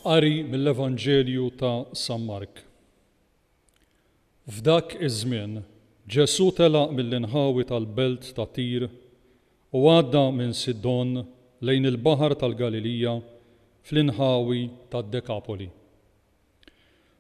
Qari mill-Evanġelju ta' San Mark. F'dak iż-żmien, Ġesù telaq mill-inħawi tal-belt ta' Tir u għadda minn Sidon lejn il-baħar tal-Galilija fl-inħawi tad-Dekapoli.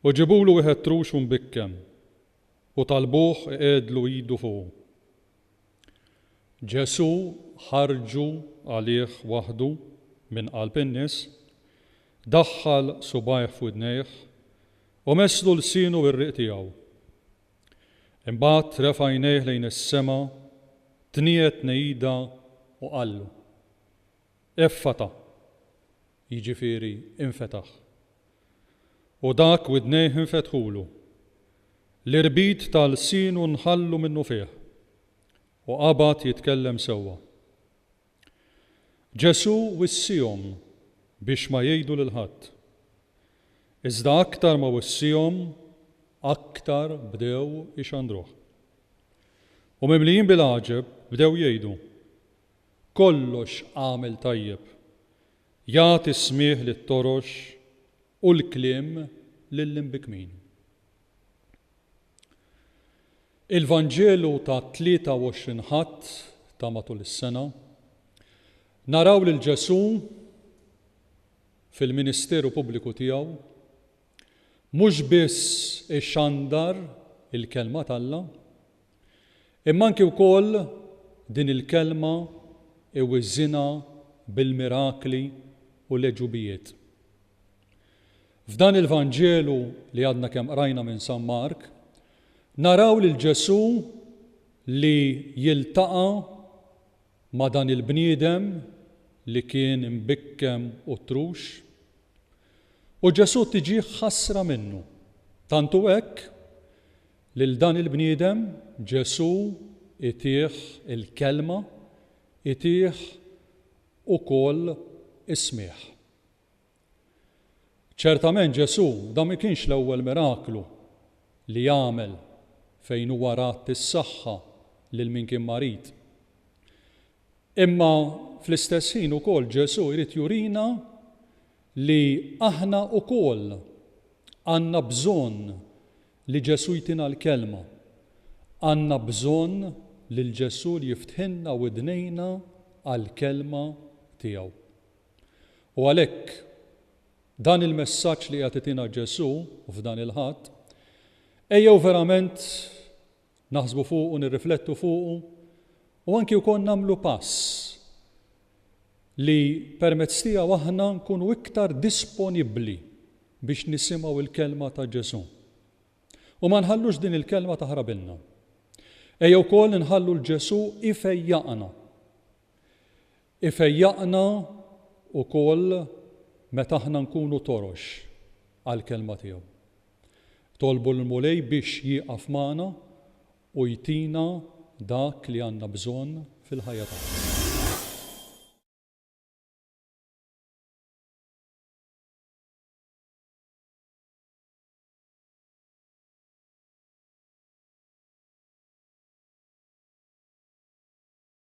U ġibulu wieħed trux u mbikken, u talbuh iqegħedlu idu fuqu. Ġesù ħarġu għalih waħdu minn qalb in-nies, daħħal subgħajh f'widnejh, u messlu lsienu bir-riq tiegħu. Imbagħad refa' għajnejh lejn is-sema, tniet nejida u qallu, Effata, jiġifieri infetaħ. U dak widnejh infetħulu, l-irbit ta' lsienu nħallu minnufih, u qabad jitkellem sewwa. Ġesù wissiehom biex ma jgħidu lil ħadd. Iżda aktar ma wissiehom, aktar bdew ixandruh. U mimlijin bil-għaġeb, bdew jgħidu, kollox għamel tajjeb. Jagħti s-smigħ lit-torox u l-kliem lill-imbikmin. Il-Vanġelu tat-23 Ħadd ta' matul is-sena, naraw lil Ġesù fil-ministeru pubbliku tiegħu mhux biss ixandar il-Kelma t'Alla, Imma anki wkoll din il-kelma iwiżżinha bil-mirakli u l-għeġubijiet. F'dan il-Vanġelu li għadna kemm qrajna minn San Mark, naraw lil Ġesù li jiltaqa' ma' dan il-bniedem li kien imbikkem u ttrux. U Ġesù tiġih ħasra minnu. Tant hu hekk Lil dan il-bniedem Ġesù itieh il-Kelma, itieh ukoll is-smigħ. Ċertament Ġesù dan ma kienx l-ewwel miraklu li għamel fejn huwa radd is-saħħa lil min kien marid. Imma fl-istess ħin ukoll Ġesù jrid jurina li aħna ukoll għandna bżonn li Ġesù jtina l-Kelma. Għandna bżonn lil Ġesù li jiftħilna widnejna għall-Kelma tiegħu. U għalhekk, dan il-messaġġ li qiegħed itina Ġesù f'dan il-Ħadd, ejjew verament naħsbu fuqu, nirriflettu fuqu u anki wkoll nagħmlu pass li permezz tiegħu aħna nkunu iktar disponibbli biex nisimgħu l-kelma ta' Ġesù. U ma nħallux din il-kelma taħrabilna. Ejja wkoll inħallu l Ġesù ifejjaqna Ifejjaqna wkoll meta aħna nkunu torox għall-Kelma tiegħu. Tolbu lill-Mulej biex jieqaf magħna u jtina dak li għandna bżonn fil-ħajja tagħna.